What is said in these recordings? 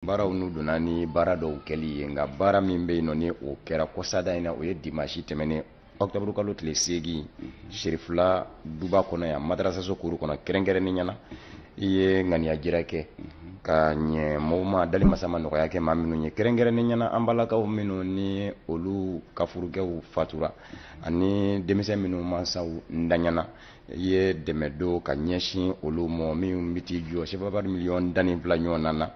baaraw n'u donna ni baara dɔw kɛli ye nka baara min bɛ yen nɔ ni o kɛra kɔsada in na o ye dimansi tɛmɛnen ɔkutɔburu kalo tile seegin serifula duba kɔnɔ yan madarasaso kuru kɔnɔ kɛrɛnkɛrɛnnenya na i ye ŋaniyajira kɛ ka ɲɛ maaw ma dali masa ma nɔgɔya kɛ maa minnu ye kɛrɛnkɛrɛnnenya na an balakaw minnu ni olu ka furukɛw fatura ani denmisɛn minnu mansaw ntanyana i ye dɛmɛ don ka ɲɛsin olu ma min bɛ t'i jɔ sefawari miliyɔn tan ni fila ɲɔgɔn na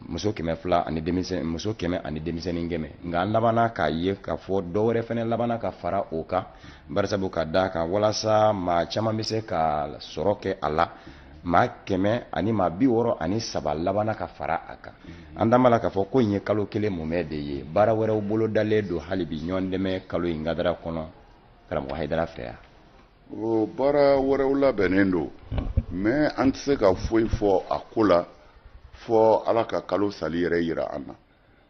muso kɛmɛ fila ani denmisɛn muso kɛmɛ ani denmisɛnnin kɛmɛ nka an labanna k'a ye k'a fɔ dɔ wɛrɛ fɛnɛ labanna ka fara o kan barisabu ka d'a kan walasa maa caman bɛ se ka sɔrɔ kɛ a la maa kɛmɛ ani maa bi wɔɔrɔ ani saba labanna ka fara a kan an da la k'a fɔ ko in ye kalo kelen mumɛ de ye baara wɛrɛw bolodalen don hali bi ɲɔgɔn dɛmɛ kalo in kadara kɔnɔ karamɔgɔ hayidara fɛ yan o baara wɛrɛw labɛnnen don mais an tɛ se ka foyi fɔ a ko la fo ala ka kalo sali yɛrɛ yira an na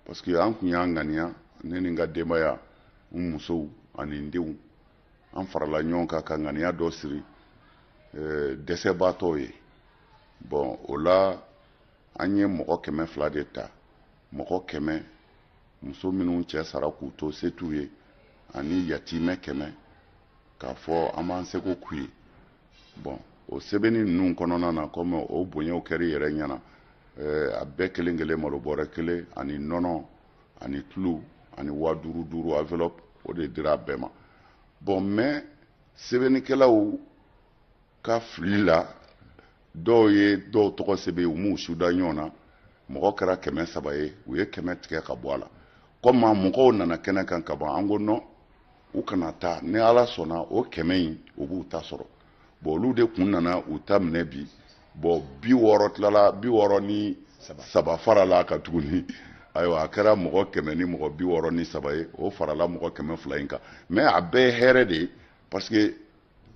parce que an kun y'a ŋaniya ne ni n ka denbaya n musow ani n denw an farala ɲɔgɔn kan ka ŋaniya dɔ siri eh, dɛsɛbaatɔw ye bon o la an ye mɔgɔ kɛmɛ fila de ta mɔgɔ kɛmɛ muso minnu cɛ sara k'u to se t'u ye ani yatimɛ kɛmɛ k'a fɔ an b'an seko k'u ye bon o sɛbɛnni ninnu kɔnɔna na kɔmi o bonyaw kɛra i yɛrɛ ɲɛna eh, a bɛɛ kelen kelen malo bɔrɛ kelen ani nɔnɔ ani tulu ani waa duuru duuru enveloppe o de dira a bɛɛ ma bon mais sɛbɛnnikɛlaw ka fili la dɔw ye dɔw tɔgɔ sɛbɛn u m'u sara ɲɔgɔn na mɔgɔ kɛra kɛmɛ saba ye u ye kɛmɛ tigɛ ka bɔ a la kɔmi mɔgɔw nana kɛnɛ kan ka ban an ko non u kana taa ni ala sɔnna o kɛmɛ in u b'u ta sɔrɔ bon olu de kun nana u ta minɛ bi bon bi wɔɔrɔ tilala bi wɔɔrɔ ni saba farala a kan tuguni ayiwa a kɛra mɔgɔ kɛmɛ ni mɔgɔ bi wɔɔrɔ ni saba ye o farala mɔgɔ kɛmɛ fila in kan mais a bɛɛ ye hɛrɛ de ye parce que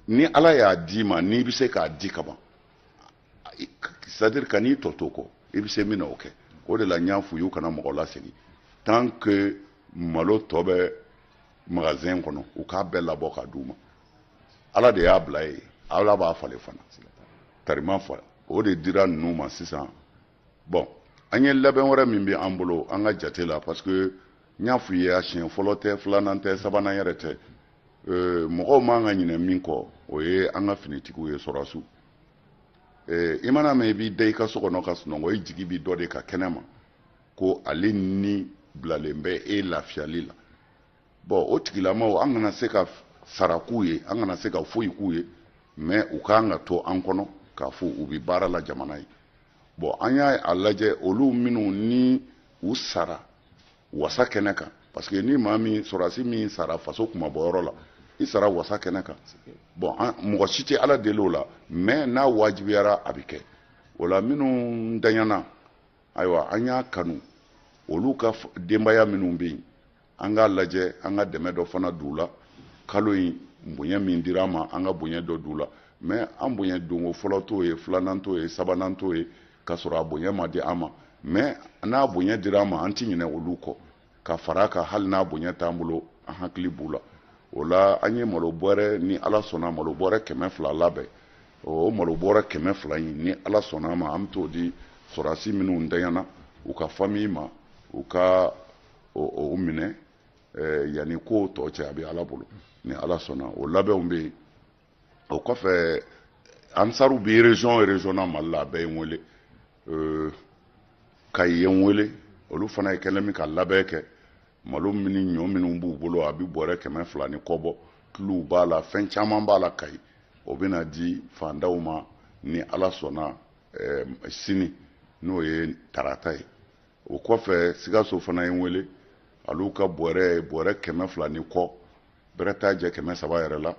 ni ala y'a d'i ma n'i bɛ se k'a di ka ban c'est-à-dire kan'i tɔ to kɔ i bɛ se min na o kɛ o de la n y'a f'u y'u kana mɔgɔ lasegin tant que malo tɔ bɛ magasin kɔnɔ u k'a bɛɛ labɔ ka d'u ma ala de y'a bila yen ala b'a falen fana tarima fa o de dira ninnu ma sisan bon an ye labɛn wɛrɛ min bɛ an bolo an ka jate la parce que n y'a f'u ye a siɲɛ fɔlɔ tɛ filanan tɛ sabanan yɛrɛ tɛ euh, mɔgɔw man ka ɲinɛ min kɔ o ye an ka finitigiw ye sɔrɔdasiw euh, i mana mɛn i b'i da i ka so kɔnɔ ka sunɔgɔ i jigi bi dɔ de kan kɛnɛ ma ko ale ni bilalen bɛ e lafiyali la bɔn o tigilamaw an kana se ka sara k'u ye an kana se ka foyi k'u ye mɛ u k'an k'a to an kɔnɔ k'a fɔ u bɛ baara la jamana ye bɔn an y'a lajɛ olu minnu ni u sara wasa kɛnɛ kan parce que ni maa min sɔrɔdasi min sara faso kunmabɔyɔrɔ la i sara wasa kɛnɛ kan bɔn mɔgɔ si tɛ ala deli o la mɛ n'a wajibiyara a bɛ kɛ o la minnu ntanyana ayiwa an y'a kanu olu ka denbaya minnu bɛ yen an k'a lajɛ an ka dɛmɛ dɔ fana d'u la kalo in bonya min dira an ma an ka bonya dɔ d'u la mɛ an bonya donko fɔlɔ t'o ye filanan t'o ye sabanan t'o ye k'a sɔrɔ a bonya ma di an ma mɛ n'a bonya dira an ma an ti ɲinɛ olu kɔ ka fara a kan hali n'a bonya t'an bolo an hakili b'u la o la an ye malo bɔrɛ ni ala sɔnna malo bɔrɛ kɛmɛ fila labɛn o malo bɔrɛ kɛmɛ fila in ni ala sɔnna ma an bɛ t'o di sɔrɔdasi minnu ntanyana u ka famiyi ma u ka o minɛ yanni ko tɔ cɛ a bɛ ala bolo ni ala sɔnna o labɛnw bɛ yen o kɔfɛ ansaru bɛ région o région na mali la a bɛɛ ye n wele kayi ye n wele olu fana kɛlen bɛ ka labɛn kɛ malo min ni ɲɔ minnu b'u bolo a bɛ bɔrɛ kɛmɛ fila ni kɔ bɔ tuluw b'a la fɛn caman b'a la kayi o bɛna di fantanw ma ni ala sɔnna sini n'o ye tarata ye o kɔfɛ sikaso fana ye n wele olu ka bɔrɛ bɔrɛ kɛmɛ fila ni kɔ bɛrɛ t'a jɛ kɛmɛ saba yɛrɛ la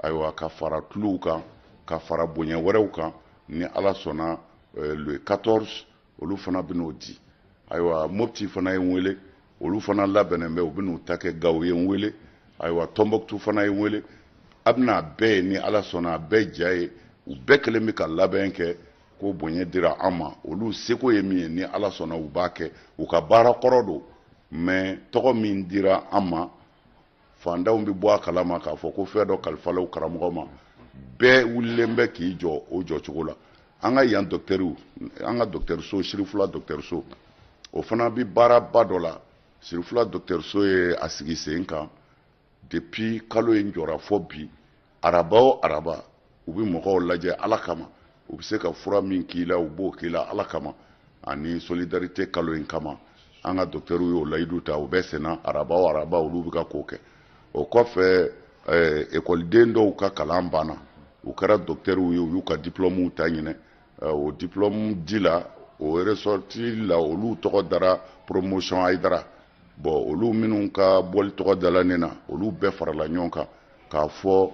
ayiwa ka fara tuluw kan ka fara bonya wɛrɛw kan ni ala sɔnna eh, le 14 olu fana bɛn'o di ayiwa mopti fana ye n wele olu fana labɛnnen bɛ u bɛn'u ta kɛ gawo ye n wele ayiwa tɔnbɔkutu fana ye n wele a bɛn'a bɛɛ ye ni ala sɔnna a bɛɛ ja ye u bɛɛ kelen bɛ ka labɛn kɛ ko bonya dira an ma olu seko ye min ye ni ala sɔnna u b'a kɛ u ka baara kɔrɔ don mɛ tɔgɔ min dira an ma fantanw bɛ bɔ a kalama k'a fɔ ko fɛn dɔ kalifala karamɔgɔ ma bɛɛ wulilen bɛ k'i jɔ o jɔcogo la an ka yan dɔkitɛriw an ka dɔkitɛriso sirifula dɔkitɛriso o fana bɛ baaraba dɔ la sirifula dɔkitɛriso ye a sigi sen kan depuis kalo in jɔra fɔ bi araba o araba u bɛ mɔgɔw lajɛ ala kama u bɛ se ka fura min k'i la u b'o k'i la ala kama ani solidarité kalo in kama an ka dɔkitɛriw y'o layidu ta o bɛ senna araba o araba olu bɛ ka k'o kɛ o kɔfɛ eh, ekɔliden dɔw ka kalan banna u kɛra dɔkitɛriw ye u y'u ka diplɔmuw ta ɲinɛ eh, o diplɔmu di la o resɔriti la olu tɔgɔ dara promotion ayidara bɔn olu minnu ka bɔli tɔgɔ dala ne na olu bɛɛ farala ɲɔgɔn kan k'a fɔ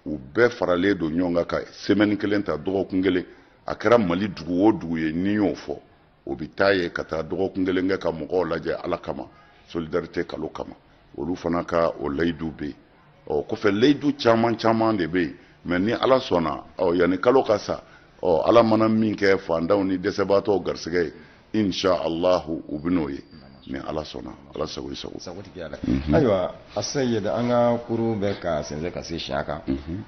u bɛɛ faralen don ɲɔgɔn kan ka semɛni kelen ta dɔgɔkun kelen a kɛra mali dugu o dugu ye ni y'o fɔ o bɛ taa yen ka taa dɔgɔkun kelen kɛ ka mɔgɔw lajɛ ala kama solidarite kalo kama olu fana ka o layidu bɛ yen ɔ kɔfɛ layidu caman caman de bɛ yen mais ni ala sɔnna ɔ yanni kalo ka sa ɔ ala mana min kɛ fantanw ni dɛsɛbaatɔw garisɛgɛ ye insha allahu u bɛ n'o ye ni ala sɔnna ala sago i sago sagotigi ala mhm. ayiwa asayid an ka kurun bɛ ka sɛnsɛn ka se siya kan mhm.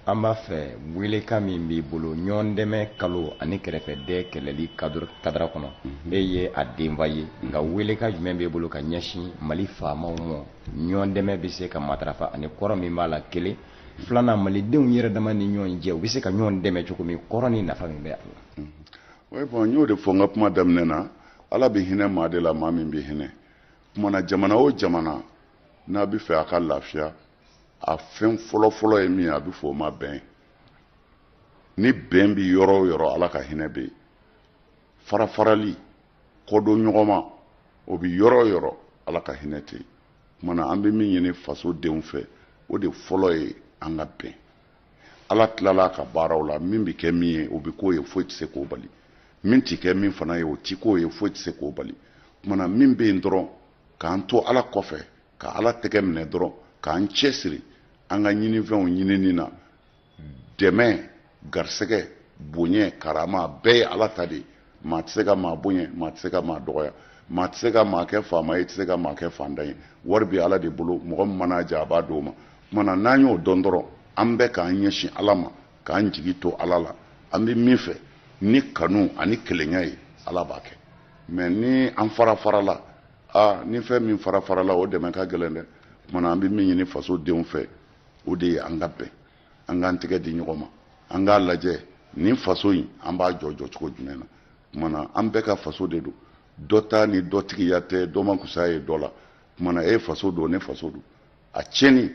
an b'a fɛ welekan min b'i bolo ɲɔgɔn dɛmɛ kalo ani kɛrɛfɛdɛn kɛlɛli kadara kɔnɔ mm-hmm. e ye a denfa ye nka welekan jumɛn b'i bolo ka ɲɛsin mali faamaw ma ɲɔgɔn dɛmɛ bɛ se ka matarafa ani kɔrɔ min b'a la kelen filanan malidenw yɛrɛ dama ni ɲɔgɔn cɛ u bɛ se ka ɲɔgɔn dɛmɛ cogo min kɔrɔ ni nafa min bɛ a la. Mm-hmm. oui bon n y'o de fɔ n ka kuma daminɛ na ala bɛ hinɛ maa de la maa min bɛ hinɛ kumana jamana o jamana n'a bɛ fɛ a ka lafiya a fɛn fɔlɔfɔlɔ ye min ye a bɛ fɔ o ma bɛn ni bɛn bɛ yɔrɔ o yɔrɔ ala ka hinɛ bɛ yen farafarali kɔdon ɲɔgɔn ma o bɛ yɔrɔ o yɔrɔ ala ka hinɛ tɛ yen kumana an bɛ min ɲini faso denw fɛ o de fɔlɔ ye an ka bɛn ala tilala ka baaraw la min bɛ kɛ min ye o bɛ k'o ye foyi tɛ se k'o bali min tɛ kɛ min fana ye o tɛ k'o ye foyi tɛ se k'o bali kumana min bɛ yen dɔrɔn k'an to ala kɔfɛ ka ala tɛgɛ minɛ dɔrɔn k'an cɛsiri an ka ɲininfɛnw ɲinini na dɛmɛ garisɛgɛ bonya karama bɛɛ ye ala ta de ye maa tɛ se ka maa bonya maa tɛ se ka maa dɔgɔya maa tɛ se ka maa kɛ faama ye tɛ se ka maa kɛ fantan ye wari bɛ ala de bolo mɔgɔ min mana diya a b'a d'o ma kumana n'an y'o dɔn dɔrɔn an bɛɛ k'an ɲɛsin ala ma k'an jigi to ala la an bɛ min fɛ ni kanu ani kelenya ye ala b'a kɛ mais ni an farafarala aa ni fɛn min farafarala o dɛmɛ ka gɛlɛn dɛ kumana an bɛ min ɲini faso denw fɛ o de ye an ka bɛn an k'an tɛgɛ di ɲɔgɔn ma an k'a lajɛ nin faso in an b'a jɔ jɔ cogo jumɛn na kumana an bɛɛ ka faso de don dɔ ta ni dɔ tigiya tɛ dɔ ma kusa ye dɔ la kumana e faso don ne faso don a tiɲɛni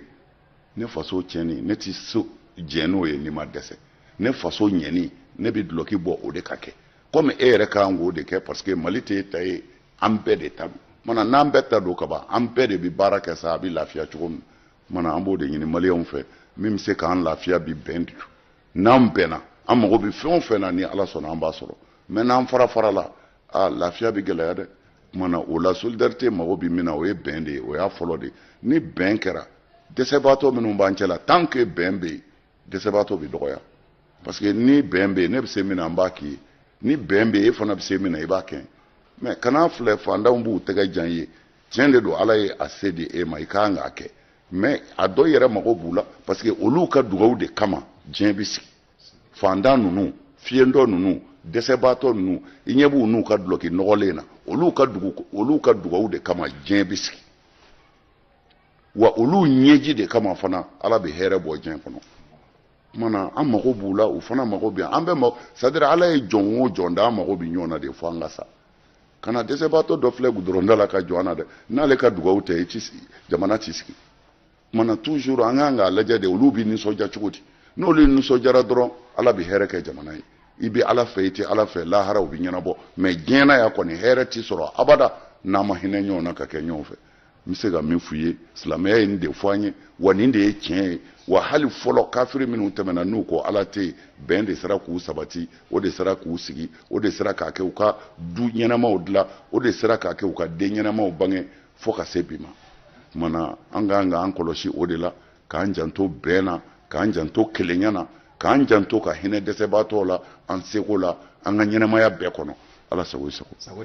ne faso tiɲɛni ne tɛ sɔn jɛn n'o ye ni n ma dɛsɛ ne faso ɲɛni ne bɛ dulɔki bɔ o de ka kɛ komi e yɛrɛ ka kan k'o de kɛ parce que mali tɛ e ta ye an bɛɛ de ta don kumana n'an bɛɛ ta don kaban an bɛɛ de bɛ baara kɛ sa a bɛ lafiya cogo min kumana an b'o de ɲini maliyɛnw fɛ min bɛ se k'an lafiya bi bɛn de n'an bɛnna an mago bɛ fɛn o fɛn na ni ala sɔnna an b'a sɔrɔ mais n'an farafarala a lafiya bɛ gɛlɛya dɛ kumana o la solidarite mago bɛ min na o ye bɛn de ye o y'a fɔlɔ de ye ni bɛn kɛra dɛsɛbaatɔ minnu b'an cɛ la tant que bɛn bɛ yen dɛsɛbaatɔ bɛ dɔgɔya parce que ni bɛn bɛ yen ne bɛ se min na n b'a k'i ye ni bɛn bɛ yen e fana bɛ se min na i b'a kɛ mais kan'a filɛ fantanw b'u tɛgɛ jan ye tiɲɛ de don ala ye a se di e ma i ka kan k'a kɛ mais a dɔ yɛrɛ mago b'u la parce que olu ka dugawu de kama diɲɛ bɛ sigi fantan ninnu fiyentɔ ninnu dɛsɛbaatɔ ninnu i ɲɛ b'u n'u ka dulɔki nɔgɔlen na olu ka dugawu de kama diɲɛ bɛ sigi wa olu ɲɛji de kama fana ala bɛ hɛrɛ bɔ diɲɛ kɔnɔ kumana an mago b'u la u fana mago bɛ an bɛɛ c'est-à-dire ala ye jɔn o jɔn da an mago bɛ ɲɔgɔn na de fo an ka sa kana dɛsɛbaatɔ dɔ filɛ gudɔrɔnda la ka jɔn a la dɛ n'ale ka dugawu tɛ i ti sigi jamana ti sigi kumana toujours an kan k'a lajɛ de olu bɛ nisɔndiya cogo di n'olu nisɔndiyara dɔrɔn ala bɛ hɛrɛ kɛ jamana ye i bɛ ala fɛ i tɛ ala fɛ lahara o bɛ ɲɛnabɔ mais diɲɛ na yan kɔni hɛrɛ ti sɔrɔ abada n'an ma hinɛ ɲɔgɔn na ka kɛ ɲɔgɔn fɛ n bɛ se ka min f'u ye silamɛya ye nin de fɔ an ye wa nin de ye tiɲɛ ye wa hali fɔlɔ kafiri minnu tɛmɛna n'u ko ala tɛ yen bɛn de sera k'u sabati o de sera k'u sigi o de sera k'a kɛ u ka du ɲɛnamaw dilan o de sera k'a kɛ u ka den ɲɛnamaw bange fo ka se bi ma kumana an ka kan k'an kɔlɔsi o de la k'an janto bɛn na k'an janto kelenya na k'an janto ka hinɛ dɛsɛbaatɔw la an seko la an ka ɲɛnamaya bɛɛ kɔnɔ ala sago i sago